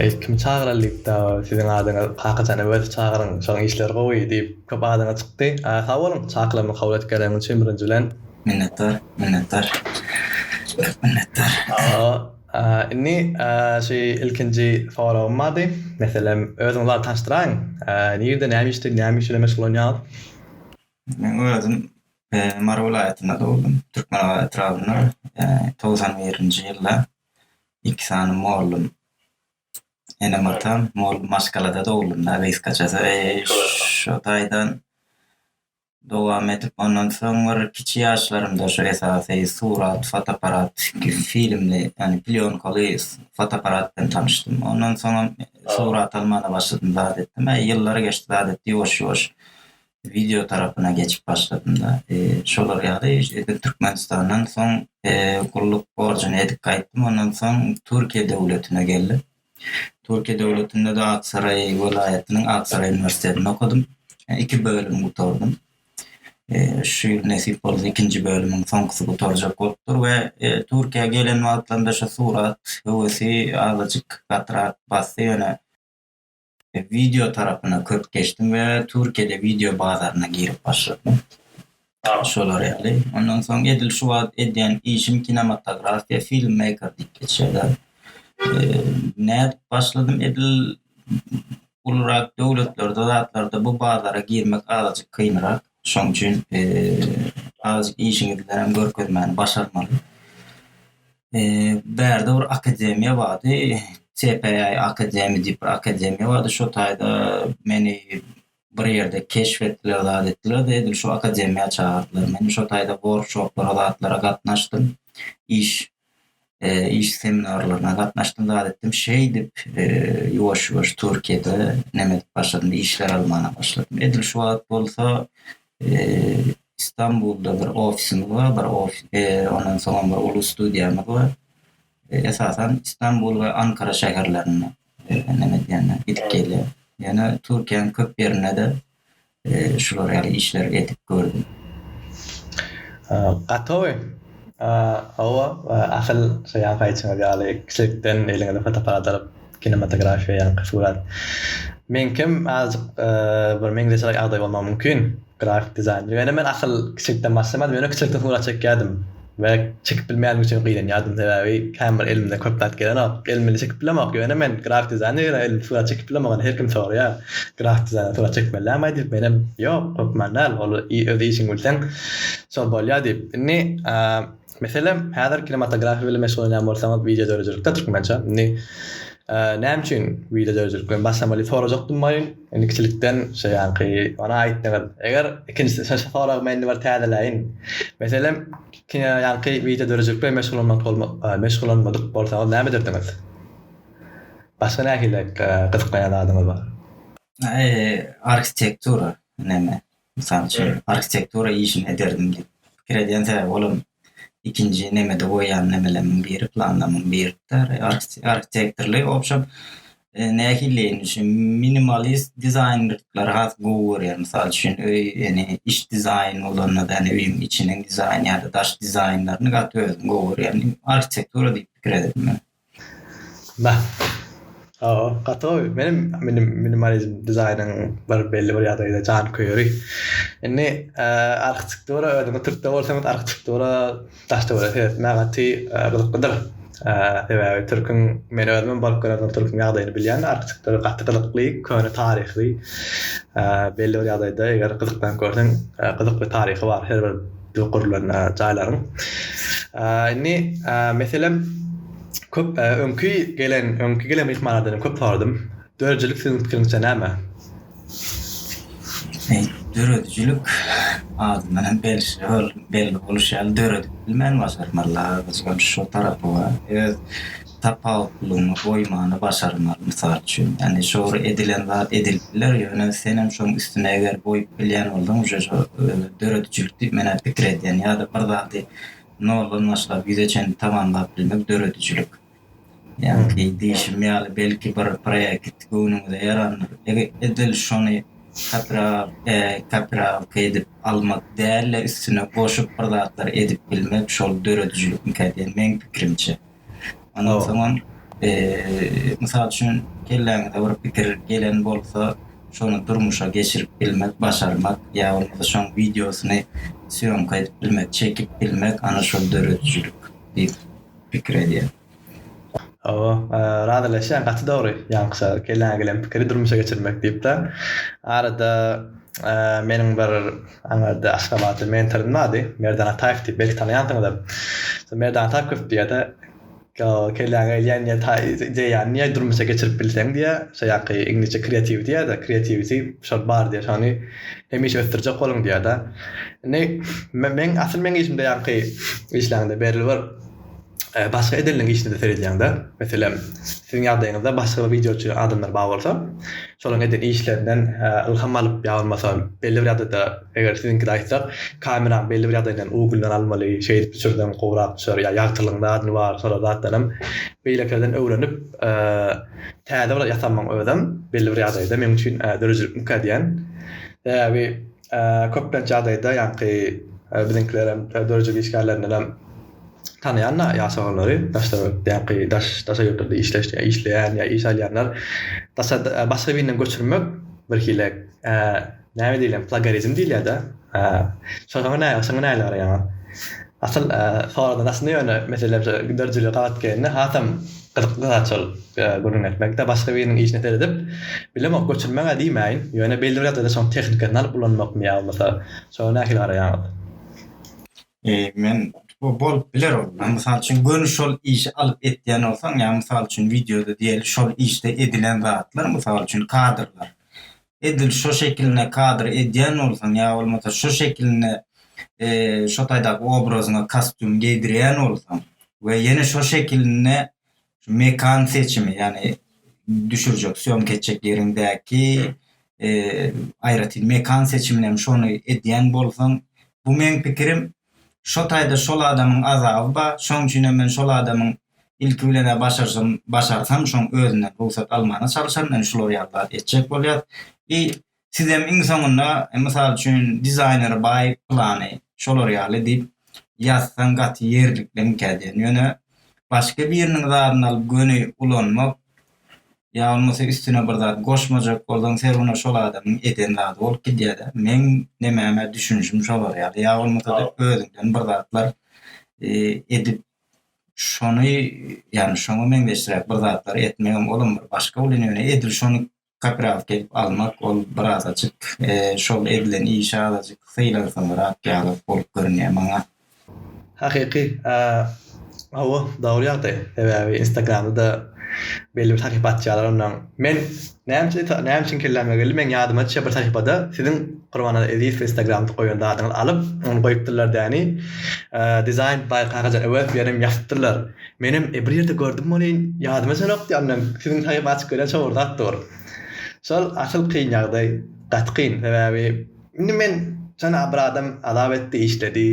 Eý kim çagyralykda siziň adyňyz kakajan öwez çagyryň şoň işleri gowy diýip köp adyňyz çykdy sag boluň çakylamy kabul edip geleniň üçin birinji bilen. Minnetdar minnetdar örüp minnetdar. Sagbol indi şu ilkinji soragym bardy meselem özüňiz barada tanşdyraýyň nirde näme işde näme iş bilen meşgullanýaňyz. Men özüm Mary welaýatynda dogdum Türkmenabat etrabynda togsan birinji ýylda iki sany mollum enem atam mol maşgalada dogulym da gysgaçasy şu taýdan dowam edip ondan soň bir kiçi ýaşlarymda şu esasy surat fotoaparat filmli ýani plýonkaly fotoaparat bilen tanyşdym ondan soňam surat almana başladym zat etdim ýyllar geçdi zat etdi ýuwaş ýuwaş Wideo tarapyna geçip başladymda, şolar ýaly edil Türkmenistandan soň gulluk borjuny edip gaýtdym, ondan soň Türkiýe döwletine geldim. Türkiýe döwletinde-de Aksaray welaýatynyň Aksaray uniwersitetinde okadym. Iki bölüm gutardym. Şu ýyl nesip bolsa ikinji bölümiň soňkusy gutarjak bolupdyr we Türkiýä gelen wagtlarymda şu surat höwesi azajyk gatyrak basdy, ýöne Wideo tarapyna köp geçdim we Türkiýede wideo bazaryna girip başladym. Şolar ýaly. Ondan soň edil şu wagt edýän işim kinematografiýa, filmmeýker diýip geçýärler. Nädip başladym? Edil ulurak döwletlerde zatlarda bu bazara girmek azajyk kynrak. Şoň üçin az işiňiz bilen hem görkezmäni başarmaly. Bärde bir akademiýa bardy, CPA akademi diýip bir akademiýa bardy. Şo taýda meni bir ýerde keşf etdiler, zat etdiler de, edil şu akademiýa çagyrdylar. Men şo taýda workshoplara, zatlara gatnaşdym. Iş iş seminarlaryna gatnaşdym zat etdim şeýdip ýuwaş ýuwaş türkiýede näme edip başladym işler almana başladym edil şu wagt bolsa istanbulda bir ofisimiz bar bir ondan soň bir uly studiýamyz bar esasan istanbul we ankara şäherlerinde näme edýän gidip gelýän ýöne türkiýäniň köp ýerinde-de şular ýaly işleri edip gördüm. Gatowy. Hawa, asyl şu ýanky aýtşyňyz ýaly kiçilikden eliňize fotoaparat alyp kinematografiýa ýanky surat. Meňkem azajyk bir meňzeş ýagdaý bolmagy mümkin, grafik dizaýner. Ýöne men asyl kiçilikden başlamadim, ýöne kiçilikden surat çekýärdim. we çekip bilmeýänim üçin gynanýardym, sebäbi kän bir elimden köp zat gelenok, elim bile çekip bilemok, ýöne men grafik dizaýner ýöne elim surat çekip bilemok, ony her kim soraýar, grafik dizaýner surat çekmeli dälmaý diýip, menem ýok, hökman däl, ol öz işiňi bilseň şol bolýar diýip. Indi meselem häzir kinematografiýa bilen meşgullanýan bolsaňyz, wideo döredijilikde türkmençe, indi Näme üçin wideo döredilik bilen başlamaly diýip sorajakdym welin, indi kiçilikden şu ýanky bana aýtdyňyz. Eger ikinjisi şu soragy men indi bir täzeläýin. Meselem, kino ýanky wideo döredijilik bilen meşgullanmak bolma meşgullanmadyk bolsaňyz näme ederdiňiz? Başga nähili gyzyklanýan zadyňyz bar? Arhitektura, näme, Mysal üçin, arhitektura işini ederdim diýip pikir edýän sebäbi olam ikinji nemede goýýan nemelerimiň biri planlamyň birikde arhitektorly obşem nähiliýeýin şu minimalist dizaýnryklar has gowy görýän mysal üçin öý ýene iç dizaýn bolanda da öýüň içiniň dizaýny ýa-da daş dizaýnlaryny gaty özüm gowy görýän arhitektura diýip pikir ederdim men. Nah. Hawa, gaty gowy. Menem minim minimalizm dizaýnyň bir belli bir ýagdaýda janköýeri. Indi, e, arhitektura özüňiz türkde bolsaňyz arhitektura daş-töwerege seretmäge gaty gyzyklydyr. E, sebäbi türküň, men özümem baryp gören bir türküň ýagdaýyny bilýän, arhitektura gaty gyzykly, köne taryhy. E, belli bir ýagdaýda eger gyzyklanyp görseň, e, gyzykly taryhy bar her bir. gurlan jaýlaryň. Indi meselem köp öňki gelen öňki gelen myhmanlardan köp sordum. Döredijilik siziň pikiriňizçe näme? Döredijilik adyndan hem belli bol belli boluşy ýaly döredip bilmän başarmarlar. Şu tarapy bar. Öz tapawutlylygyňy goýmany başarmaly, mysal üçin. Ýagny şor edilen zat edilip biler, ýöne senem şoň üstüne eger goýup bilýän bolsaň uje şo döredijilik diýip menä pikir edýän. Ýa-da bir zady noldan başlap ýüze çenli tamamlap bilmek döredijilik. Ýagny diýşim ýaly belki bir proýekt göwnüňize ýarandyr. Eger edil şony kapyral e kapyralka edip almak däl-de üstüne goşup bir zatlar edip bilmek şol döredijilikmikä diýen meň pikirimçe. Ondan soňam, mysal üçin, kelläňize bir pikir gelen bolsa, şony durmuşa geçirip bilmek, başarmak ýa bolmasa şoň wideosyny sýomka edip bilmek, çekip bilmek, ana şol döredijilik diýip pikir edýän. Hawa, razylaşýan, gaty dogry, ýaňky kelläňe gelen pikiri durmuşa geçirmek diýip-de. Arada meniň bir Aňyrda Aşgabatly mentorym bardy. Merdan Ataýew diýip, belki tanaýansyňyzam. Şol Merdan Ataýew köp diýýär-de, Ýok, kelläňe gelýän diýýär, ta ideýany diýýär, durmuşa geçirip bilseň diýýär, şo ýaňky iňlisçe kreatiw diýýär-de, kreatiwisi şol bar diýýär, şony hemişe ösdürjek boluň diýýär-de. Indi men, asyl meň işimde ýaňky işleňde belli bir, Başga edenleň işine-de seredýäňdä. Meselem, siziň ýagdaýyňyzda başga bir wideoçy adamlar bar bolsa, şolaryň eden işlerinden ylham alyp ýa bolmasa belli bir ýagdaýda, eger siziňkide aýtsak, kameraň belli bir ýagdaýyndan uglyndan almaly, şeýdip düşürseň gowrak düşer ýa ýagtylygyň zadyny bar, şolar zatdanam beýlekilerden öwrenip täze bir ýasanmaň özem belli bir ýagdaýda meň üçin döredijilikmikä diýýän. Sebäbi. Köplenç ýagdaýda ýaňky biziňkilerem döredijilik işgärlerindenem tanaýan-da ýaş oglary, daşlar ýaňky daş daşa ýurtlarda işleş işleýän ýa iş alýanlar daşa başga birinden göçürmek bir hile näme diýilem plagarizm diýilýär-de. Şoňa näme şoňa nähili garaýaňyz? Asyl soradan aslynda ýöne mesele bir giderjili gabat gelende hasam gyzykly zat şol gürrüň etmekde başga biriniň işine seredip bilemok göçürmäge diýmäýin ýöne belli bir ýagdaýda şoň tehnikasyn alyp ulanmakmy ýa bolmasa şoňa nähili garaýaňyz? Men bolup biler ol mysal üçin göni şol işi alyp etýän bolsaň ýa mysal üçin wideoda diýeli şol işde edilen zatlar mysal üçin kadrlar edil şo şekilinde kadr edýän bolsaň ýa bolmasa şo şekilinde şo taýdaky obrazyňa kostýum geýdirýän bolsaň we ýene şo şekilinde mekan seçimi ýagny düşürjek sýomka etjek ýeriňdäki aýratyn mekan seçimini hem şony edýän bolsaň bu meň pikirim Şo taýda şol adamyň azaby bar, şoň üçinem men şol adamyň ilki bilen-ä başarsam, başarsam, şoň özünden rugsat almana çalyşaryn, indi şular ýaly zat etjek bolýas. I sizem iň soňunda, mysal üçin, dizaýneri baý plany, şolar ýaly diýip ýazsaň gaty ýerlikliňkä diýen. Ýöne başga biriniň zadyny alyp göni ulanmak ýa bolmasa üstüne bir zat goşmajak bolsaň serwine şol adamyň eden zady bolup gidýärä meň nemäme düşünişim şolar ýaly ýa bolmasa özüňden bir zatlar edip şony ýagny şoňa meňzeşräk bir zatlar etmegem olam bir başga bolýan ýöne edil şony kapiralka edip almak ol birazajyk şol edilen işe azajyk sylansaňyrak ýaly bolup görünýär maňa Hakyky, hawa dogry ýagdaý. Sebäbi instagramda-da belli bir sahypa açýarlar onnoň. Men näme näme üçin kelläme geldi, meň ýadyma düşýär bir sahypada siziň Gurbannaza Ezizow instagramda goýan zadyňyzy alyp ony goýupdyrlar däni. Designed by Kakajan Öwezow ýerem ýazypdyrlar. Menem bir ýerde gördüm welin ýadyma düşenokdy ýandan siziň sahypa açyp görýän şo bir zat dur. Şol asyl kyn ýagdaý, gaty kyn sebäbi. Indi men jana bir adam azap etdi, işledi,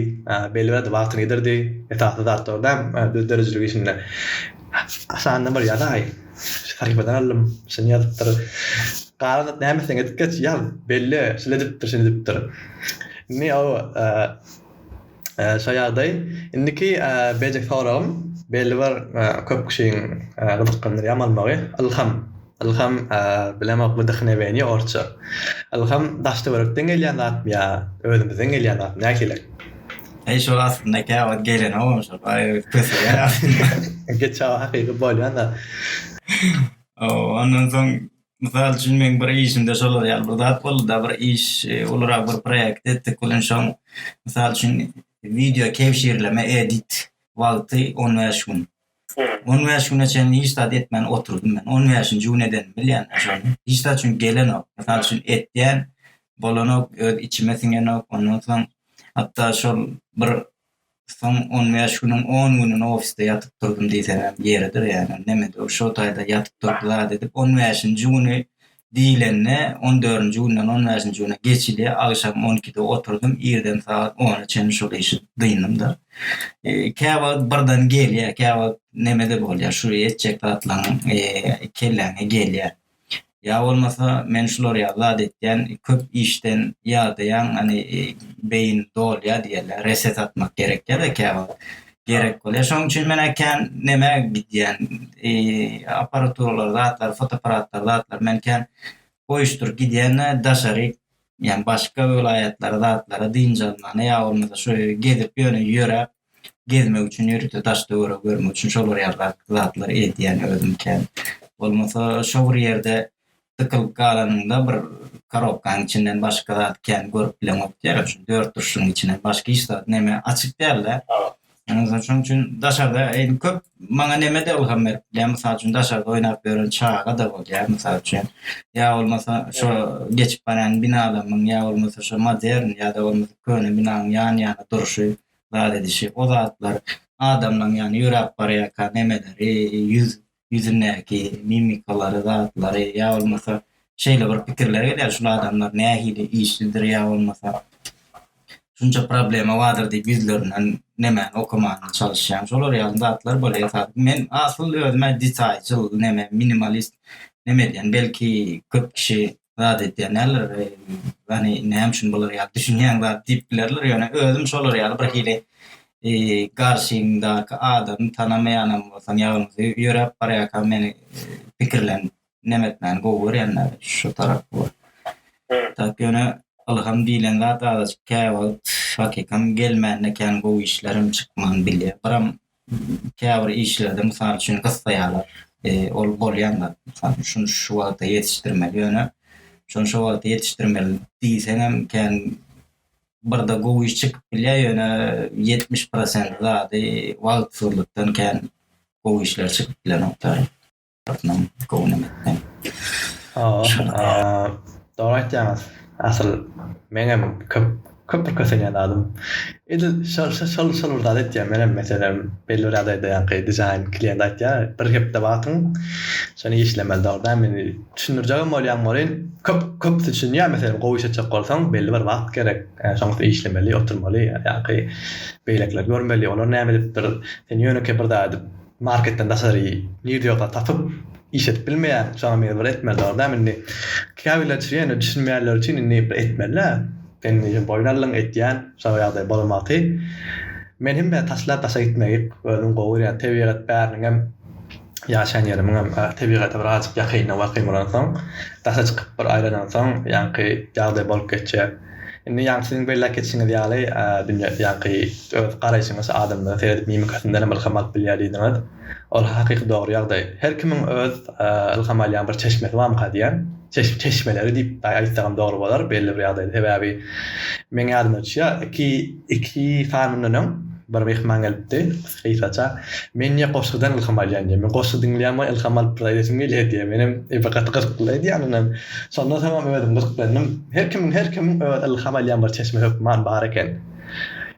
belli bir wagtyny ýitirdi, esasy zatlar däl, düz döredijilik işinde. Aşagynda bir ýazaý, şu sahypadan aldym, şuny ýazypdyr. Galan zat näme etseň edip geç, ýaz, belle, şuny edipdir, şuny edipdir. Indi o Şo ýagdaý. Indiki beýleki soragym, belli bir köp kişiň gyzyklandyrýar malmagy, ylham. Ylham bilemok bu wdhnewienie orsça. Ylham daş-töwerekden gelýän zatmy ýa özümizden gelýän zatmy nähili? Eý şo aslynda käwagt gelenogam şol baý kösegem aslynda. Geçawa hakyky bolýan zat. Ondan soň Mysal üçin, meň bir işimde şolar ýaly bir zat boldy-da, bir iş, e, ulurak bir proýekt etdik. Gülünç şoň, mysal üçin, wideo kebşirleme, edit wagty on bäş gün. On bäş güne çenli hiç zat etmän oturdym men. On bäşinji gün edenim bilýän şony. Hiç zat çünki gelenok. Mysal üçin, etýän, bolanok, öz içime siňenok. Ondan soň, hatda şol bir Soň on bäş günüň on gününi ofisde ýatyp durdum diýseňem ýeridir ýaly. Nemedi ol şo taýda ýatyp durdy zat edip. On bäşinji güni diýlende on dördünji günden on bäşinji güne geçidi. Agşam on ikide oturdym. Irden sagat ona çenli şol işi dyndym-da. Käwagt birden gelýär, käwagt nemede bolýar, şu etjek zatlaryň kelläňe gelýär. Ýa bolmasa men şular ýaly zat etýän, köp işden ýadaýan, hany beýin dolýar diýýärler, reset atmak gerekýär-de käwagt. Gerek bolýar. Şonuň üçin men kän nämä gidýän, apparaturalar, zatlar, fotoapparatlar, zatlar men kän goýuşdyryp gidýän-de daşary, ýagny başga welaýatlara, zatlara dynç almaga ýa bolmasa şu gezip ýöne ýöräp, gezmek üçin ýörite daş töweregi görmek üçin şolar ýaly zatlary edýän özüm kän. Bolmasa şo bir ýerde dykylyp galanyňda bir korobkaň içinden başga zat kän görüp bileňok diýýärler. Şu dört durşuň içinden başga hiç zat neme açyk däl-de. Şonuň üçin daşarda eýni köp maňa neme-de ylham berip bilýär. Mysal üçin daşarda oýnap ýören çaga-da bolýar mysal üçin. Ýa bolmasa şo geçip barýan binalarymyň ýa bolmasa şo modern ýa-da bolmasa köne binanyň ýan-ýana durşy. zat edişi, o zatlar adamlaň ýany ýöräp barýarka nemeleri, ýüz ýüzündäki mimikalary, zatlary ýa bolmasa şeýle bir pikirler gelýär, şul adamlar nähili işlidir ýa bolmasa şunça problema bardyr diýip ýüzlerinden nemäni okamaga çalyşýan. Şolar ýaly zatlar bolýar esasy. Men asyl özüme detaýçyl, neme, minimalist neme edýän. Belki köp kişi zat edýänler, ýagny näme üçin bular ýaly düşünýäň zat diýip bilerler, ýöne özüm şolar ýaly bir hili garşyňdaky adamy tanamaýanam bolsam ýaňyzy ýöräp barýarkam meni pikirlenip neme etmäni gowy görýänler şu tarapy bar. Tak ýöne ylham diýlen zat azajyk käwagt hakykam gelmände kän gowy işlerem çykman bilýär. Biram käbir işlerde mysal üçin gyssaýarlar. E, ol bolýan zat. Mysal üçin şuny şu wagta ýetişdirmeli, ýöne şuny şu wagta ýetişdirmeli diýseň hem kän birde gowy iş çykyp bilýär, ýöne 70% zady wagtsyzlykdan kän gowy işler çykyp bilenoklar. Artman gowunam etdim. Dogry aýtýaňyz. Asyl meňem köp köp bir kösenýän adym. Edil şol şol şol bir zady etýän menem meselem belli bir ýagdaýda ýaňky dizaýn klient aýtýar bir hepde wagtyň şony işlemeli dogry däl men düşündirjegem bolýan bolýyn köp köp düşünýär meselem gowy iş etjek bolsaň belli bir wagt gerek şoň üstüne işlemeli oturmaly ýaňky beýlekiler görmeli olar näme edipdir sen ýönekeý bir zady Marketden daşary nirde ýoksa tapyp işledip bilmeýän şoňa mejbur etmeli dogry dämi indi käbirler üçin ýöne düşünmeýänler üçin indi bir etmelidä indi ýöne boýun aldyň etýän şoňa ýagdaý bolamaty men hem bä taşlap daşa gitmegi özüm gowy görýän tebigat bäriniňem ýaşaýan ýerimiňem tebigata bir azajyk ýakynda wak ýyň bolansoň daşa çykyp bir aýlanansoň ýaňky ýagdaý bolup geçýär. Indi ýaňky siziň belläp geçişiňiz ýaly, dünýä, ýaňky öz garaýşyňyz, adamlaryň seredip mimikasyndan hem ylham alyp bilýär diýdiňiz. Ol hakyky dogry ýagdaý. Her kimiň öz ylham alýan bir çeşmesi barmyka diýýän. Çeş, çeşmeleri diýip aýtsagam dogry bolar belli bir ýagdaýda. Sebäbi meň ýadyma düşýär, iki, iki sanyndan öň bir myhman gelipdi. Gysgaça, men ýa goşgudan ylham alýan ýa men goşgy diňleýän we ylham alyp bir zat edesim gelýär diýýän. Menem bir gaty gyzykly zat eýän ynam. Şondan soňam özüm gyzyklandym. Her kimiň her kimiň öz ylham alýan bir çeşme hökman bar eken.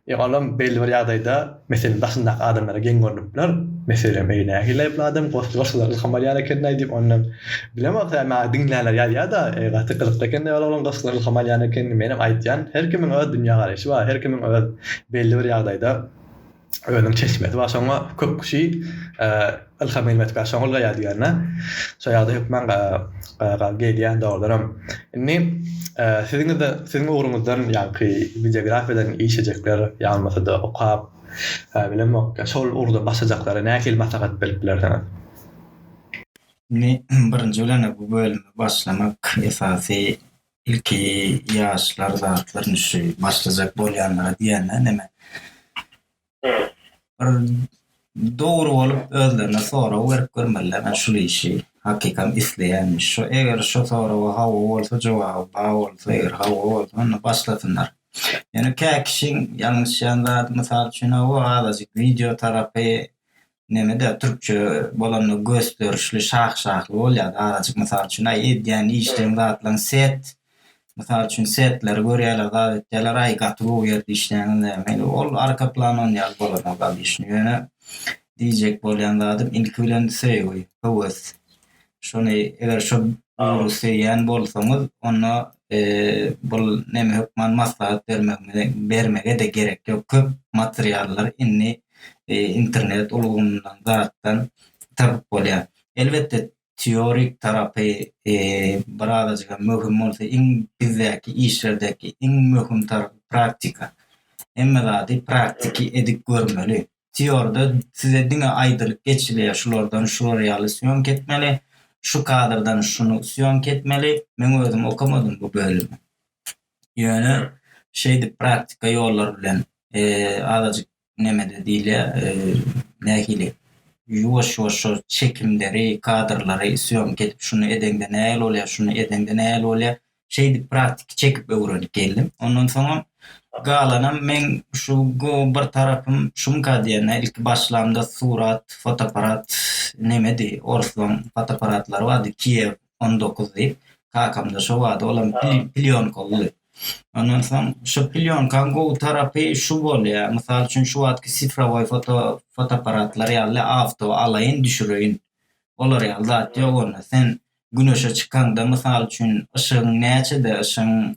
Ýa olam belli bir ýagdaýda meselem daşyndaky adamlara geň görnüp biler. Meselem eý nähili aýyply adam goşgy goşgudan ylham alýan ekenlaý diýip ondan. Bilemok tä maňa diňleýänler ýazýada eý gaty gyzykly ekeni ol oglan goşgudan ylham alýan ekeni. Menem aýtýan her kimiň öz dünýä garaýşy bar. Her kimiň öz belli bir ýagdaýda Özüniň çeşmesi bar şoňa köp kişi Ylham gelmedikkä şoňul gaýa diýýänler. Şo ýagda hökman gal gelýän dogrudanam. Indi siziňizde siziň ugruňyzdan ýaňky bibliografiýadan iş ejekler ýalmasada okap bilemok ýa şol ugurda başlajaklara nähili maslahat berip bilersiňiz? Indi birinji bilen-ä bu bölüme başlamak esasy Ilki ýaşlar zatlar nüşi başlajak bolýanlara diýende näme? Bir dogry bolup özlerine sorag berip görmeliler. Men şu işi hakykam isleýänmi? Şu eger şu soraga hawa bolsa jogaby ba bolsa eger hawa bolsa onda başlasynlar. Ýöne kä kişiň ýalňyşýan zady mysal üçin hawa azajyk wideo tarapy nemede türkçe bolanda gösterişli şah şahly bolýar azajyk mysal üçin aý edýän işleň zatlaň set mysal üçin setleri görýärler zat etýärler aý gaty gowy ýerde işleňiz näme ol arka plan on ýaly bolanok alyşyn ýöne diýjek bolýan zadym ilki bilen söýgi höwes Şony eger şu ugry söýýän bolsaňyz, onda bul neme hökman maslahat bermege-de gerek ýok. Köp materiallar indi internet ulgamyndan zatdan tapyp bolýar. Elbetde teorik tarapy birazajygam möhüm bolsa, iň bizdäki işlerdäki iň möhüm tarapy praktika. Hemme zady praktiki edip görmeli. teorda size diňe aýdylyp geçilýär şulardan şular ýaly sýomka etmeli, şu kadrdan şuny sýomka etmeli, men özüm okamadym bu bölümi. Ýöne şeýdip praktika ýollar bilen azajyk nemede diýilýär nähili ýuwaş ýuwaş şol çekimleri kadrlary sýomka edip şuny edeňde nähili bolýar şuny edeňde nähili bolýar Şeýdip praktiki çekip öwrenip geldim. Ondan soňam galanam meň şu go bir tarapym şumka diýende ilki başlamda surat, fotoapparat nemedi, orslaň fotoapparatlary bardy Kiev on dokuz diýip. Kakamda şo bardy, olam plýonkalydy. Ondan soň şu plýonkaň gowy tarapy şu bolýar, mysal üçin şu wagtky sifrowoý foto fotoapparatlar ýaly awto alaýyn düşüreýin. Olar ýaly zat ýok onda. Sen Güneşe çykaňda, mysal üçin, yşygyň näçede, yşygyň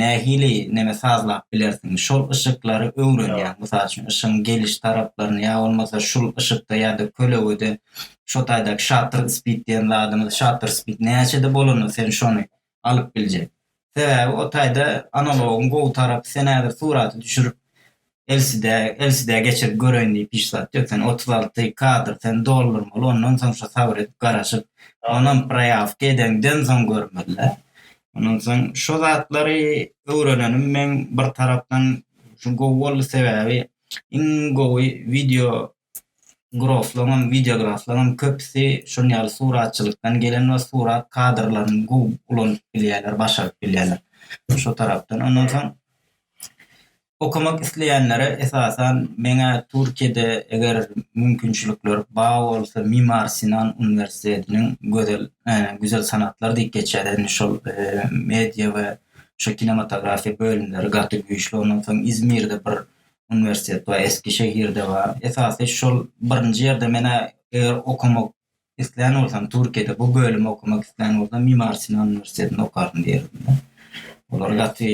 nähili neme sazlap bilersiň, şol yşyklary öwrenýäň. Mysal üçin, yşygyň geliş taraplaryny ýa bolmasa şul yşykda ýa-da kölegede şo taýdaky şatr spid diýen zadymyz, şatr spid näçede bolanda sen şony alyp biljek. Sebäbi o taýda analogyň gowy tarapy sen häzir suraty düşürip LCD LCD geçirip göreýin diýip hiç zat ýok sen otuz alty kadr sen doldurmaly ondan soň şo sabyr edip garaşyp onam proýawka edeňden soň görmelidä ondan soň şo zatlary öwrenenim meň bir tarapdan şu gowy boldy sebäbi iň gowy wideo Fotograflaryňam, wideograflaryňam köpüsi şunuň ýaly suratçylykdan gelen we surat kadrlaryny gowy ulanyp bilýärler, başaryp bilýärler. Şo tarapdan. Ondan soň okamak isleýänlere esasan meňä Türkiýede eger mümkinçilikler bar bolsa Mimar Sinan uniwersitetiniň gözel güzel sanatlar diýip geçýär indi şol media we şu kinematografiýa bölümleri gaty güýçli ondan soň Izmirde bir uniwersitet bar, Eskişehirde bar. Esasy şol birinji ýerde menä eger okamak islän bolsam, Türkiýede bu bölümi okamak islän bolsam, Mimar Sinan uniwersitetinde okaryn diýerdim. Olar gaty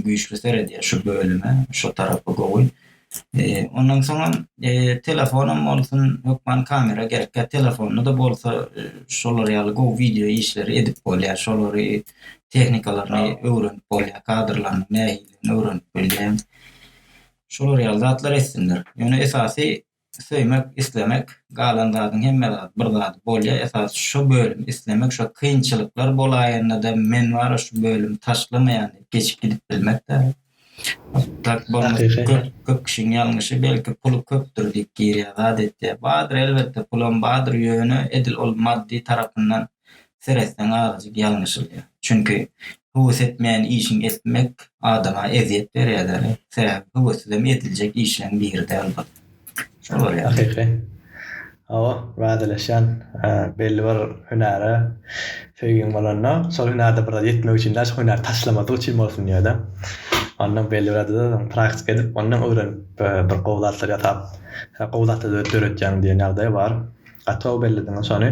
güýçli seredýär şu bölüme, şu tarapy gowy. E, ondan soň hem e, telefonum bolsun, hökman kamera gerek. Kä telefonda-da bolsa e, şolar ýaly gowy wideo işleri edip bolýar. Şolary tehnikalaryny öwrenip bolýar, kadrlaryny nähili şeýleräklerini öwrenip bilýän. Şolar ýaly zatlar etsinler. Ýöne esasy söýmek, islemek, galan zadyň hemme zat bir zady bolýa esasy şo bölüm islemek şo kynçylyklar bolaýanda-da men bara şu bölüm taşlamaýan diýip geçip gidip bilmek-de. Otdurk bolmasa köp köp kişiň ýalňyşy belki puly köpdür diýip girýä zat etýä. Badyr elbetde pulam badyr ýöne edil ol maddy tarapyndan seretseň azajyk ýalňyşylýar. Çünki höwes etmeýän işiň etmek adama ezýet berýädä. Sebäbi höwessizem ediljek işleň biride albat. Şol bolýar. Hakyky. Hawa, razylaşýan. Belli bir hünäre söýgiň bolanda, şol hünärde bir zat ýetmek üçin däl, şo hünäri taşlamadyk üçin bolsun diýerdim. Ondan belli bir zatda praktika edip, ondan öwrenip bir gowy zatlar ýasap, gowy zatlar döretýäň diýen ýagdaý bar. Gaty-ow bellidiňiz şony.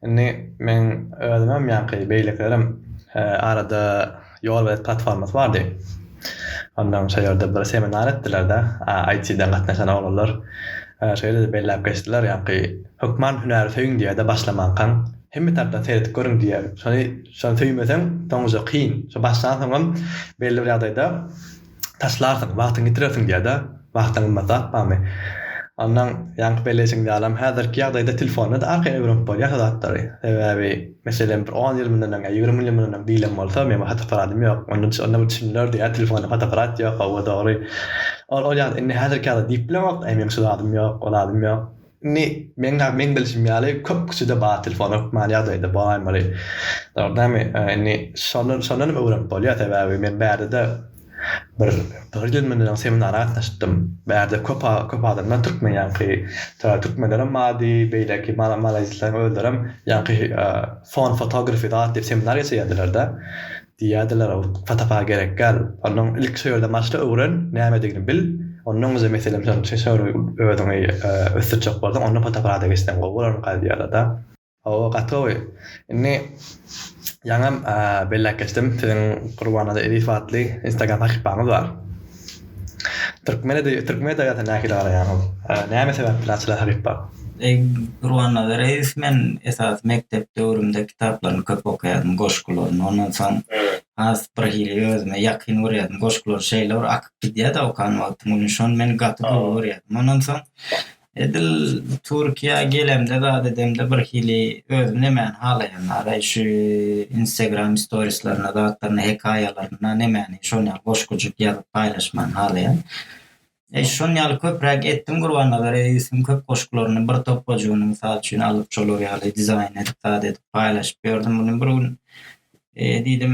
Indi meň özümem ýaňky beýlekilerem arada Ýolbelet platformasy bardy. Ondan şo ýerde bir seminar etdiler-de, IT-den gatnaşan oglanlar şo ýerde-de belläp geçdiler, ýaňky hökman hünäri söýüň diýýär-de başlamankaň, hemme tarapdan seredip görüň diýýär. Şony, şony söýmeseň soňuja kyn. Şo başlansoňam belli bir ýagdaýda taşlarsyň, wagtyňy ýitirersiň diýer-dä, wagtyň gymmat zat barmy? Ondan ýaňky belleýşiň ýalam häzirki ýagdaýda telefonda-da arkaýyn öwrenip bolýar şo zatlary. Sebäbi, meselem, bir on ýyl mundan öň ýa ýigrimi ýyl mundan öň diýlen bolsa, meň bir fotoapparadym ýok. Onda onda bir düşünilerdi, ýa telefonda fotoapparat ýok, hawa dogry. Ol ol ýagdaý, indi häzirki ýagdaý diýip bilemok, eý meň şu zadym ýok, o zadym ýok. Indi, meň-ä meň bilşim ýaly, köp kişide bar telefon hökman ýagdaýda bolaýmaly. Dogrudanmy? Indi, şondan, şondanam öwrenip bolýar, sebäbi men bärde-de bir, bir ýyl mundan öň seminara gatnaşypdym. Bärde köp, köp adamlar türkmen ýaňky, ta türkmenlerem bardy, beýleki mala, malaýzisleriň özlerem ýaňky, phone photography zat diýip seminar geçirýärdiler-de. Diýýärdiler, Owurtga-patapa gerek däl. Onnoň ilki şo ýerde başla öwren, nämedigini bil. Onnoň özi, meselem, şol özüňi ösdürjek bolsaň, onda patapalada geçseň gowy bolarmyka diýýärler-dä. Hawa, gaty gowy. Indi ýaňam belläp geçdim, siziň Gurbannazar Ezizow atly Instagram sahypaňyz bar. Türkmen edebi türkmen edebiýatyna nähili garaýaňyz? Näme sebäpden Açylan hakykat? Gurban Annabereýew men esasy mekdep döwrümde kitaplaryny köp okaýardym, goşgularyny. Ondan soň has bir hili özüme ýakyn görýärdim. Goşgulary şeýle bir akyp gidýär-de okan wagtym, şony men gaty gowy görýärdim. Ondan soň Edil Türkiýä gelemde zat edemde bir hili özüm nemäni halaýan araý şu instagram storislaryna zatlaryna hekaýalaryna nemäni şon ýaly goş gujuk ýazyp paýlaşmany halaýan. Eý şon ýaly köpräk etdim Gurbannazar Edisiň köp goşgularyny bir topbajugyny mysal üçin alyp şolar ýaly dizaýn edip zat edip paýlaşyp ýördüm muny bir gün diýdim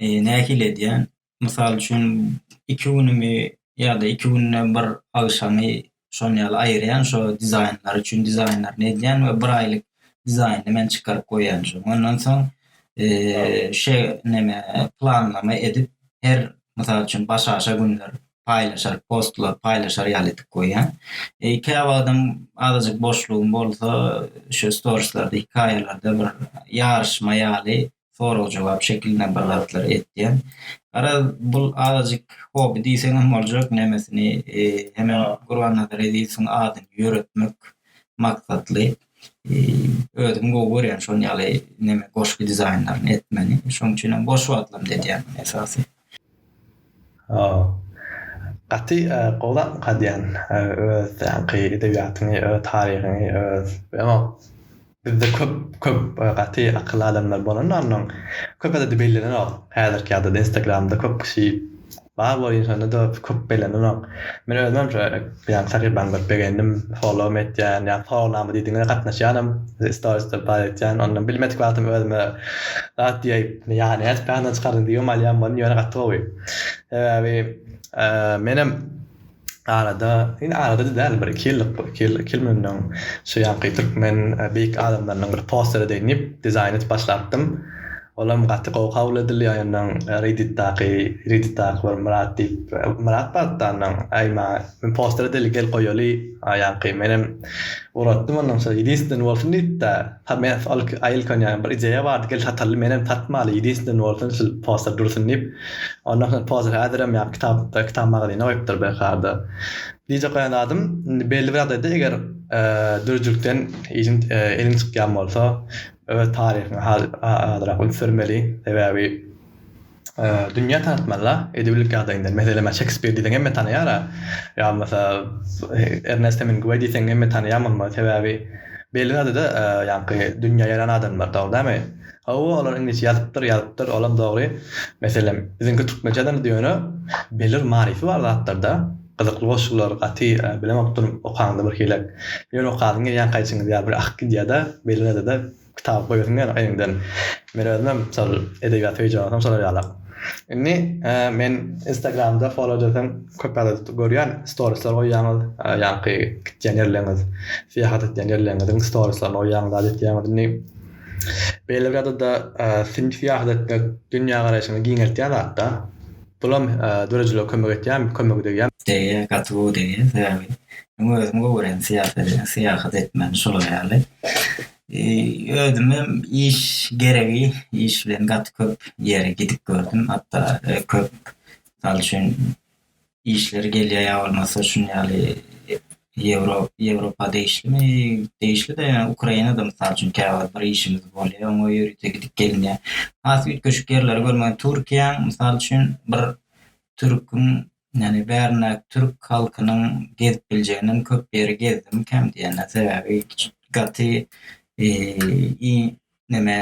Nähili edýän? Mysal üçin, iki günümi ýa-da iki günde bir agşamy şoň ýaly aýyrýan, şo dizaýnlar üçin dizaýnlaryny edýän we bir aýlyk dizaýnyny men çykaryp goýýan. Ondan soň şe näme planlama edip her mysal üçin başaşa günler paýlaşar, postlar paýlaşar ýaly edip goýýan. Käwagtam azajyk boşlugym bolsa, şo storislarda, hekaýalarda bir ýaryşma ýaly sorag-jogap şekilinde bir zatlar etýän. Garaz, bul azajyk hobi diýseň hem boljak, nemesini, hemem Gurbannazar Ezizowyň adyny ýöretmek maksatly. Özüm gowy görýän şol ýaly neme, goşgy dizaýnlaryny etmegini. Şonuň üçin hem boş wagtlarymda edýän esasy. Gaty gowy zatmyka diýen öz taýaňky edebiýatyňy öz taryhyňy öz ýa bizde köp köp gaty akylly adamlar bolanda ondan köp ede bellenenok häzirki ýagdaýda instagramda köp kişi bar bolup ýörsende de köp bellenenok men özümem şo. Ýa Sahiban bir begendim followm etýän ýa sorawnama diýdiňiz gatnaşýanam storiesde bar etýän onda bilmedik wagtym özüme zat diýip ýany edip ýandan çykardyň diýip hem alýan boldum ýöne gaty gowy sebäbi menem arada indi arada-da däl bir iki ýyllyk bu iki ýyl iki ýyl mundan şu ýanky türkmen beýik adamlarynyň bir posteri deýin diýip dizaýn edip başlapdym. Olam gaty gowy kabul edildi ýa ýondan redditdaky redditdaky bir myrat diýip myrat barda ondan aý ma men poster edeli gel goýaly a ýaňky menem uratdym ondan soň ýedinsdenini bolsun diýipda ha men ol aý ilk onýa bir ideýa bardy gel sataly menem satmaly ýedinsdenini bolsun şul poster dursun diýip ondan soň pozer häzirem ýa kitap kitap magazyna goýupdyr belki harda dj goýan zadym indi belli bir ýagdaýda eger dürüjülikden ýelim elin çykýan bolsa öz taryhyňy azyrak ünsürmeli, sebäbi dünýä tanatmaly-da, edebilik ýagdaýyndan. Meselem, men Şekspir diýseň hemme tanaýar-a, ýa bolmasa Ernest Hemingueý diýseň hemme tanaýan bolmaly, sebäbi belli zady-da ýaňky dünýä ýaýran adamlar, dogry dälmi? Hawa, olar iňlisçe ýazypdyr, ýazypdyr, olam dogry, meselem, biziňki türkmençe ýazandyr ýöne belli bir manysy bar zatlarda. Gyzykly goşgular gaty bilemok durun okaňda birhili ýöne okasyň gelýän kaýçyňyz ýa bir akyp gidýädä beýlenedede kitaby goýasyň gelýär öýüňden men özüm hem şol edebiýat söýüji adamsam şolar ýaly indi men instagramda folodesem köp ýagdaýda görýän storisler goýýaňyz ýaňky gitýän ýerleriňiz syýahat etýän ýerleriňiziň storislaryny goýýaňyz zat etýäňiz indi beýle bir ýadada syýahat etmek dünýä garaýşyňy giňeltýän zatda. Bulam dörejilige kömek etýärmi kömegi degýärmi. Degýä gaty gowy degýä sebäbi men özüm gowurýan syýasady syýahat etmän şular ýaly özümem iş geregi iş bilen gaty köp ýere gidip gördüm hatda köp mysal üçin işler gelýä ýa bolmasa şun ýaly Ýewro Ýewropa degişlimi? Degişli-de, ýa Ukrainada, mysal üçin, käwagt bir işimiz bolýar, oňa ýörite gidip gelinýär. Has üýtgeşik ýerleri görmegiň, Türkiýäň, mysal üçin, bir türküň, ýagny bärindäki türk halkynyň gezip biljeginem köp ýeri gezdim, kem diýende, sebäbi gaty iň neme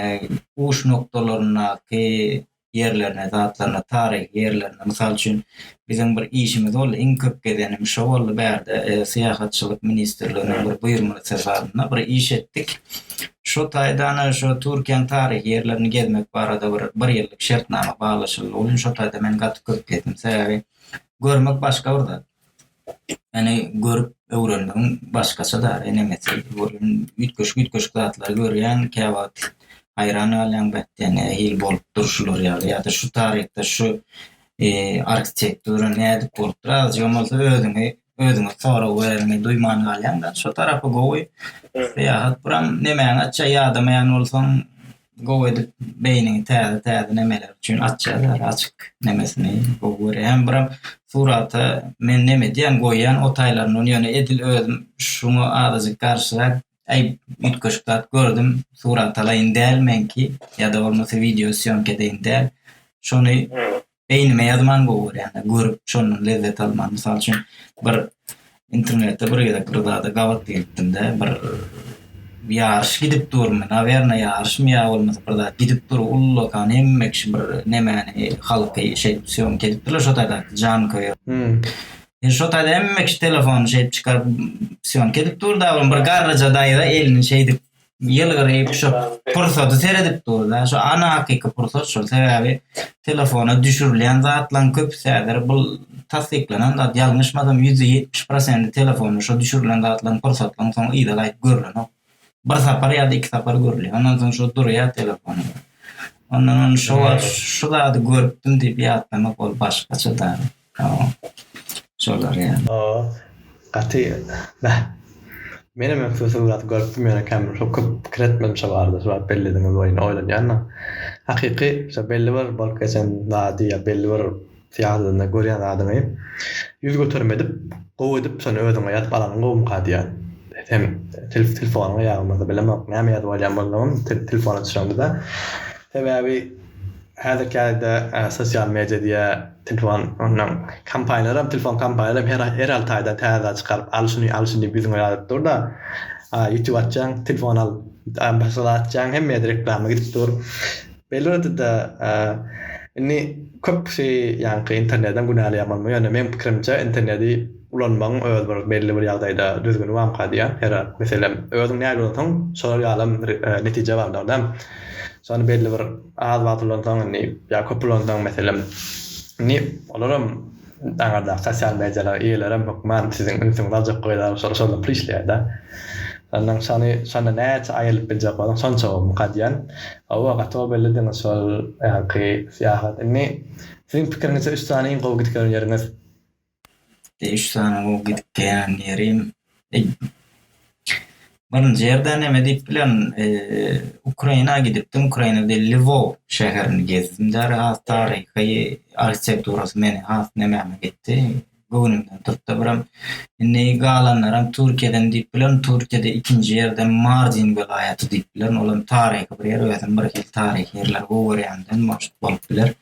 uç nokdalaryndaky ýerlerine, zatlaryna, taryhy ýerlerine, mysal üçin, biziň bir işimiz boldy, iň köp gezenim şo boldy bärde, syýahatçylyk ministrliginiň bir buýurmaly sefarynda bir iş etdik. Şo taýdan şo Türkiýäň taryhy ýerlerini gezmek barada bir bir ýyllyk şertnama baglaşyldy. Ol gün şo taýda men gaty köp gezdim. Sebäbi görmek başga bir zat. Ýöne görüp öwrenmegiň başgaça da enemesi welin üýtgeşik üýtgeşik zatlary görýäň käwagt haýran galýaň beh diýýän nähili bolupdyr şular ýaly ýada şu taryhda şu arhitektura nädip bolupdyr azajygam bolsa özüňi özüňe sorag bereniňi duýman galýaňda şo tarapy gowy syýahat buram nemäňi açýa ýadamaýan bolsaň Gowy edip beýniňi täze täze nemeler üçin açýar ýaly açyk nemesini gowy görýän biram surata men neme edýän goýýan o taýlaryndan ýöne edil özüm şuňa azajyk garşyrak aý üýtgeşik zat gördüm surat alaýyn däl meňki ýa-da bolmasa wideo sýomka edeýin däl şony beýnime ýazman gowy görýän görüp şondan lezzet alman mysal üçin bir internetde bir gezek bir zada gabat gelipdimde bir ýaryş gidip durmy nawerna ýaryşmy ýa bolmasa bir zat gidip dur ullakan hemme kişi bir nemäni halky şeýdip sýomka edipdirler şo taýda jan köýer hmm. şo taýda hemme kişi telefony şeýdip çykaryp sýomka edip durda bir garryja daýza elini şeýdip ýylgyryp şu pursady seredip durda şu ana hakyky pursat şol sebäbi telefona düşürilýän zatlaň köpüsi häzir bul tassyklanan zat ýalňyşmasam ýüzde ýetmiş prosendi telefonda şu düşürilen zatlaň pursatlaň soň yza gaýyp görlenok bir sapar ýada iki sapar görülýär ondan soň şu durýar telefon ondan on şu zady görüpdim diýip ýatlamak ol başgaça da. Şolar ýaly. Oo gaty beh. Menem ökde şol zady görüpdim ýöne kem şo köp pikir etmedim şo barada şo wagt bellediňiz oýny oýlanýanam. Hakyky şo belli bir bolup geçen zady ýa belli bir syýasatyny görýän zadyňy ýüz göterim edip gowy edip şony özüňe ýazyp alanyň gowumyka diýýän. Sen telefonyňa ýa bolmasa bilemok näme ýazyp alýan bolsaňam telefona düşeňde de sebäbi Häzirki ýerde sosial media diýe telefon ondan kompaniýalaram telefon kompaniýalaram her her alty aýda täze çykaryp al şuny al şuny diýip ýüzüňe ýazyp durda ýutube açjaň telefon al başga açjaň hemmeýe reklama gidip dur beýle ýerdede indi köp kişi ýaňky internetden günäleýän bolmaly ýöne meň pikirimçe interneti ulanmagyň öz bir belli bir ýagdaýda düzgüni bamyka diýýän her meselem özüň nägile ulansaň şolar ýalam netije bardyr däm Şony belli bir az wagt ulansaň indi ýa köp ulansaň meselem indi olaram aňyrdaky sosial mediýalaryň eýelerem hökman siziň ünsüňizi aljak gyzar şol şonda pul işleýärda. Ondan şony şonda näçe aýylyp biljek bolsaň şonça gowy muka diýýän. Hawa gaty gowy bellediňiz şol ýaňky syýahat. Indi siziň pikiriňizçe üç sany iň gowy gidip gören ýeriňiz? Ýa üç sany gowy gidip gelýän ýerim. Birinji ýerde näme diýip bilen, Ukraina gidipdim. Ukrainada Lwow şäherini gezdim. Däl has taryhy arhitekturasy meni has nämäme gitdi. Göwnümden tutdy. Biram indi galanlaram Türkiýeden diýip bilen, Türkiýede ikinji ýerde Mardin welaýaty diýip bilen, olam taryhy bir ýer, özüm birhili taryhy ýerleri gowy görýändem maşk bolup biler.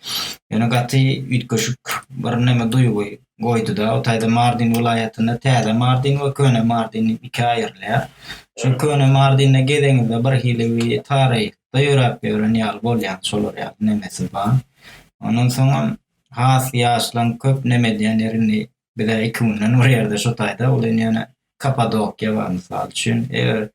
Ýöne gaty üýtgeşik bir näme duýgy goýdy-da. O taýda Mardin welaýatynda Täze Mardin we Köne Mardin diýip ikä aýrylýar. Şu Köne Mardinde gezeňizde birhili bir taryhda ýöräp ýören ýaly bolýaňyz, şolar ýaly nemesi bar. Ondan soňam has ýaşlaň köp neme edýän ýeri indi bize iki günden bir ýerde şu taýda ol indi ýöne Kapadokiýa bar mysal üçin eger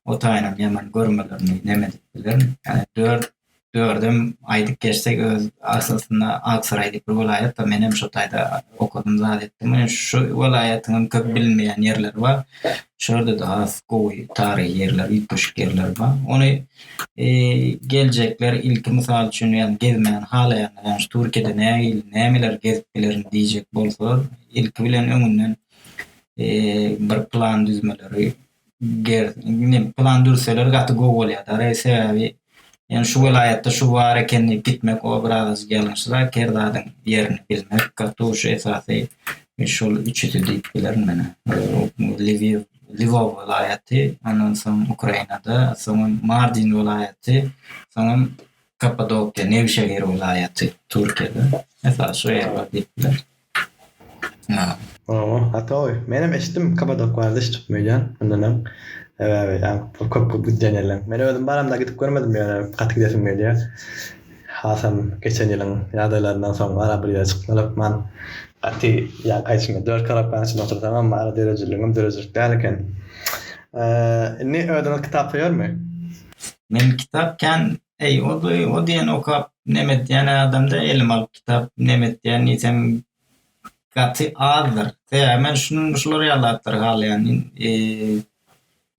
o taýynam ýaman görmelerini neme edip bilerin ýa dört dördem aýdyp geçsek öz aslynda Aksaray diýip bir welaýat bar menem şu taýda okadym zat etdim şu welaýatyňam köp bilinmeýän ýerleri bar şurada da has gowy taryhy ýerler üýtgeşik ýerler bar ony Geljekler ilki mysal üçin ýagny gezmäni halaýanlar ýagny şu Türkiýede nähili nämeleri gezip bilerin diýjek bolsalar ilki bilen öňünden bir plan düzmeleri ger indi plan düzseler gaty gowy bolýardy reý sebäbi ýagny şu welaýatda şu bar eken diýip gitmek o biraz ýalňyşrak her zadyň ýerini bilmek gaty gowy şu esasy şol üçüsi diýip bilerin men Lwiw Lwow welaýaty, ondan soň Ukrainada, soňam Mardin welaýaty, soňam Kappadokiýa, Newşehir welaýaty, Türkiýede. Esasy şu ýerler diýipler. Ynha. Oho, a toý. Menem eşitdim Kapadok barada hiç tutmaýan. Ondan öň sebäbi köp köp gidýän ýerler. Men özüm baramda gidip görmedim ýöne gaty gidesim gelýär. Hasam geçen ýylyň ýagdaýlaryndan soň ara bir ýere çykmaly hökman gaty ýaňky içimi dört karaktanyň içinde otursamam ara döredijiligim döredijilik däl eken. Indi özüňiz kitap söýermi? Men kitap kän eý o diýen okap nem etýän adamda elime alyp kitap nem etýän diýseň gaty azdyr. Sebäbi men şular ýaly zatlar halaýan.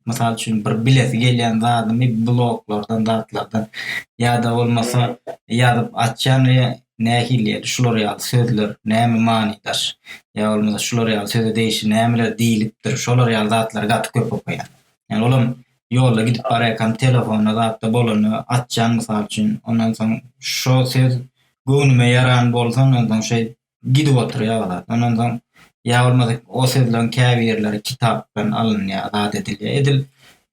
Mysal üçin bir bilesi gelýän zadymy bloglardan zatlardan ýa-da bolmasa ýazyp atýan we nähili ýeri şular ýaly sözler näme many daş ýa bolmasa şular ýaly söze degişli nämeler diýilipdir şolar ýaly zatlary gaty köp okaýan. Ýani olam ýolda gidip barýakam telefonda zatda bolanda atýan mysal üçin ondan soň şo söz göwnüme ýaran bolsa ondan soň şeýdip gidip oturýarlar. Ondan soň ýa bolmasa o sözleriň käbirleri kitapdan alynýar, zat edilýär. Edil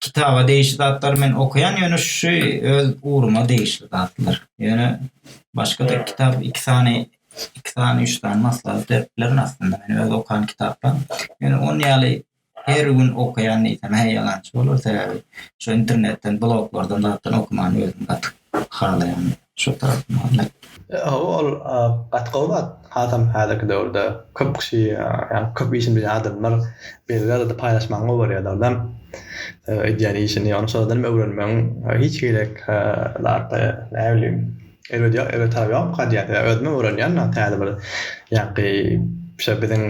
kitaba degişli zatlary men okaýan, ýöne şu öz ugruma degişli zatlar. Ýöne başga-da kitap iki sany iki sany üç sany maslahat berip bilerin aslynda. Men öz okan kitaplarym. Ýöne ony ýaly Her gün okaýan diýsem hä ýalançy bolar sebäbi şu internetden bloglardan zatdan okumany özüm gaty halaýan şu tarapyny halaýan. Hawa ol gaty gowy zat hasam häzirki döwürde köp kişi ýa köp işini bilýän adamlar belli derejede paýlaşmagyň gowy bolýadagydam edýän işini ony şolardanam öwrenmegiň hiç gerek zat näbilim Erbet ýok, erbet tarap ýokka diýýän söz. Özüme öwrenýän dagy täze bir ýaňky şo biziň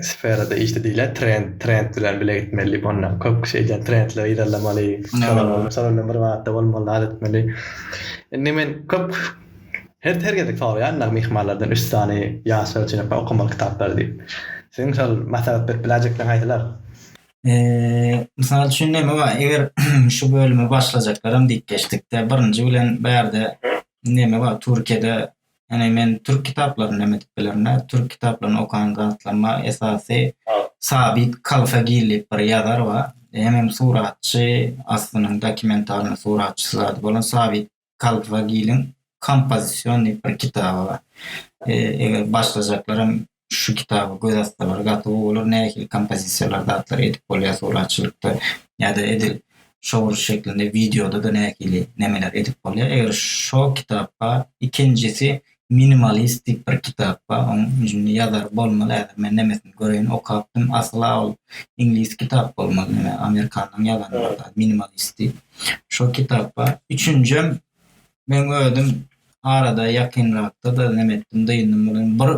sferada işde diýilýä trend, trend bilen bile gitmeli diýip onda köp kişi eýdýän trendleri yzarlamaly, şolar bilen bir batda bolmaly zat etmeli. Indi men köp her her gezek soraýan dagy myhmanlardan üç sany ýaşlar üçin okamaly kitaplary diýip. Siziň şol maslahat berip biläýjekleň haýsylar? Mysal üçin näme bar? Eger şu bölüme başlajaklaram diýip geçdikde, birinji bilen bärde näme bar? Türkiýede ene men türk kitaplaryny näme diýip bilerin? Türk kitaplaryny okan zatlaryma esasy Sabit Kalfagil diýip bir ýazar bar. Hemem suratçy, aslynyň dokumentalny suratçysy zady bolan Sabit Kaldwagiliň kompozisionnyý bir kitaby bar. E, eger başlajaklaram şu kitaby göz atsalar gaty gowy bolar. Nähili kompozisiýalar zatlar edip bolýar suratçylykda ýa-da edil şowur şeklinde wideoda-da nähili nemeler edip bolýar. Eger şo kitapka ikinjisi Minimalistik bir kitap bar oň jyny ýazary bolmaly häzir men nemesini göreýin okapdym asyla ol iňlis kitap bolmaly neme amerikanyň ýazany bolsa minimalistik şo kitap bar üçünjem men özüm arada ýakynrakda-da neme etdim dyndym munuň bir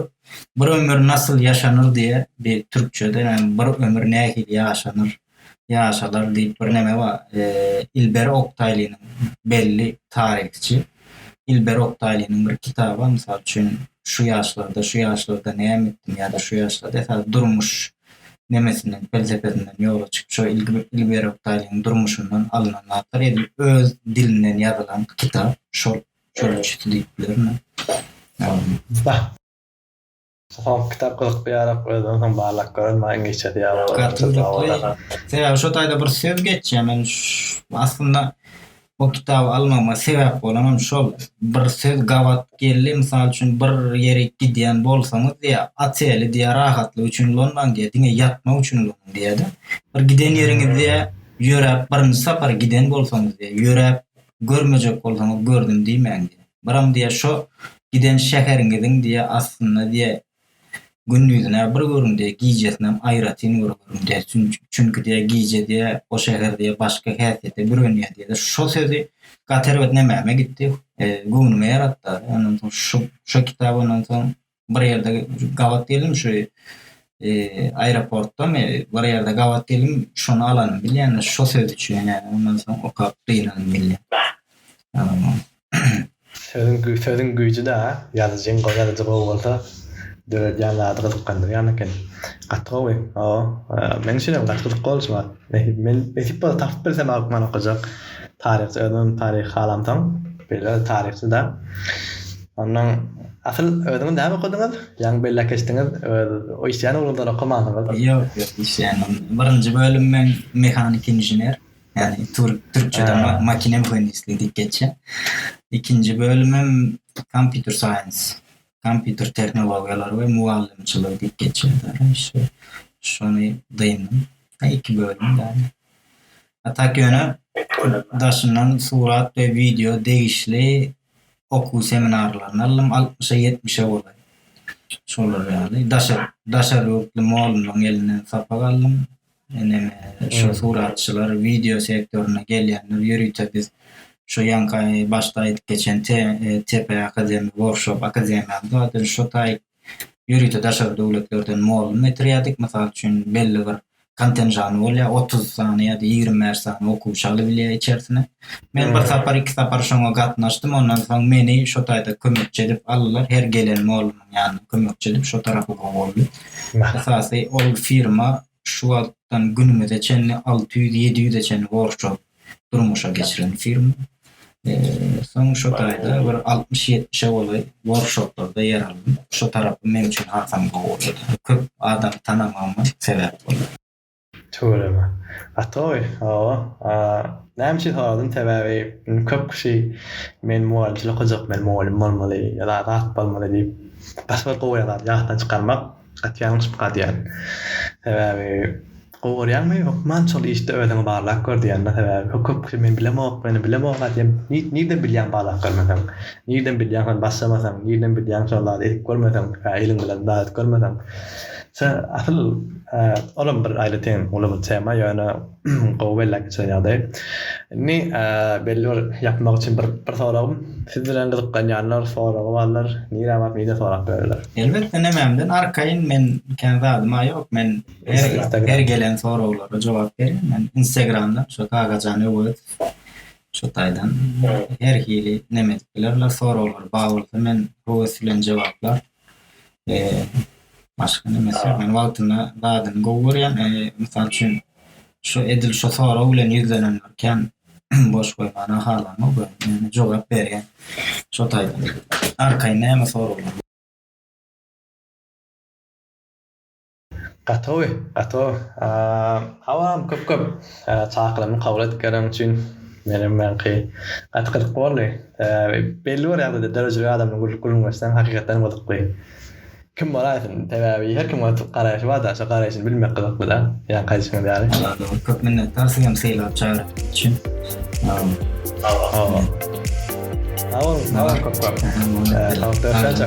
bir ömür nasyl ýaşanyr diýe bir türkçede näme bir ömür nähili ýaşanyr. ýaşalar diýip bir neme bar. E, Ilber Oktaýlynyň belli taryhçy Ilber Oktaýlynyň bir kitaby, mysal üçin, şu ýaşlarda, şu ýaşlarda näme etdim ýa-da şu ýaşlarda esasy durmuş nemesinden, pelsepesinden ýola çykyp, şo Ilber Oktaýlynyň durmuşyndan alnan zatlar, edil öz dilinden ýazylan kitap, şol şol üçüsi diýip bilerin. Ýa. Soňky kitap gyzykly ýarak özden soň barlak gören maýyň geçesi ýaly bolýar. Gaty gyzykly. Sebäbi şo taýda bir söz geçýär. Men aslynda o kitaby almagyma sebäp bolan hem şol. Bir söz gabat geldi. Mysal üçin bir ýere gidýän bolsaňyz diýýär, ateli diýýär rahatlyk üçin ulanmaň diýýär, diňe ýatmak üçin ulanyň diýýär-de. Bir giden ýeriňiz diýýär, ýöräp birinji sapar giden bolsaňyz diýýär, ýöräp görmejek bolsaňyz gördüm diýmäň diýýär. Biram diýe şo giden şäheriňiziň diýe aslynda diýe gündizine bir görüň diýe gijesinem aýratyn bir görüň diýe çünki diýe gije diýe o şäher diýe başga häsiýete bürenýär diýe şo sözi gat erbet nämäme gitdi göwnüme ýaratdary ondan soň şo şo kitap ondan soň bir ýerde gabat geldim şu e, aeroportdamy bir ýerde gabat geldim şony alan bilýän şu söz üçin ýa ondan soň okap gynalan bilýän sözüň güýji sözüň güýji de ýazyjyň gowy ýazyjy gowy bolsa döredýän zady gyzyklandyrýan eken gaty gowy hawa men üçin hem gaty gyzykly bolşy bar men nesip bolsa tapyp bilsem okajak taryhçy özüm taryhy halamsoň beýle taryhçy da Ondan asyl özüňiz näme okadyňyz? Ýaňy belläp geçdiňiz, öz işleýän ugruňyzdan okamaňyz. Ýok, ýok, işleýän ugrum. Birinji bölüm men mehanik inžener, ýagny türkçede makine mühendisligi diýip geçýär. Ikinji bölümim kompýuter saýens, kompýuter tehnologiýalary we mugallymçylygy diýip geçýär. Şony dyndyň. Ýa iki bölüm ýaly. A tak ýöne daşyndan surat we wideo degişli okuw seminarlaryna ylym altmyşa ýetmişe golaý. Şolar ýaly. Daşary, daşary ýurtly molumlaryň elinden sapak aldym. Eneme şo suratçylar, wideo sektoryna gelýänler ýörite biz şo ýaňky başda aýdyp geçen TEP akademi workshop akademiýamyz bar. Şo taýy ýörite daşary döwletlerden mugallym getirýärdik. Mysal üçin, belli bir kontenžany bolýar, otuz sany ýa-da ýigrimi bäş sany okuwçy alybilýär içerisine. Men bir sapar, iki sapar şoňa gatnaşdym, ondan soň meni şo taýda kömekçi edip aldylar, her gelen mugallymyň ýanyna kömekçi edip şo tarapy gowy boldy. Esasy, ol firma şu wagtdan günümize çenli alty ýüz, ýedi ýüze çenli workshop durmuşa geçiren firma. Soň şu taýda bir altmyş-ýetmişe golaý workshoplarda ýer aldym. Şu tarapym meň üçin hasam gowy. Köp adamy tanamagyma sebäp boldy. Tüweleme. Gaty gowy, hawa. Näme üçin soradym, sebäbi köp kişi men mugallymçylyk okajak, men mugallym bolmaly ýa-da agat bolmaly diýip, gaty bir gowy ýazar, ýatdan çykarmak. Gaty ýalňyşyp galýan. Sebäbi gowarýaňmy hökman şol işde özüňi barlap gör diýýänler sebäbi bu köp kişi men bilemok meni bilemok aýdýan nirden bilýäň barlap görmeseň nirden bilýäň hany başlamasaň nirden bilýäň şol zady edip görmeseň ýa eliň bilen dadyp görmeseň şo asyl olam bir aýratyn uly bir tema ýöne Gowy belläp geçiren ýagdaý. Indi belli bir ýapmak üçin bir bir soragym. Siz bilen gyzyklanýanlar, soragy barlar, nirä baryp nirde sorap bilerler? Elbetde nememden arkaýyn men kän zadyma ýok men her gelen soraglara jogap berýän men instagramdan şo kakajan öwezow şo taýdan her hili neme edip bilerler soraglar bar bolsa men höwes bilen jogaplar. Eee, başga name isleýän? Men wagtynda zadyny gowy görýän, eee, mysal üçin, şu edil şu sorag bilen ýüzlenenler kän, boş goýmana halanok we men jogap berýän şo taýdan. Arkaýyn näme soraglar? Gatowy, gatow. Salam, köp köp çakylygymy kabul edip geleniň üçin. Menem ýaňky gaty gyzykly boldy. Belli bir ýagdaýda döredijilik adamyna gülüp gülünmesinem hakykatdanam gyzykly. Kim bol aýtsyn, sebäbi her kimiň öz garaýşy barda, şo garaýşyny bilmek gyzyklyda. Ýaňky aýdyşyňyz ýaly. Salam, köp minnetdar siz hem sylap çagyryp üçin. Salam. Salam, köp köp. Salam, görüşençe.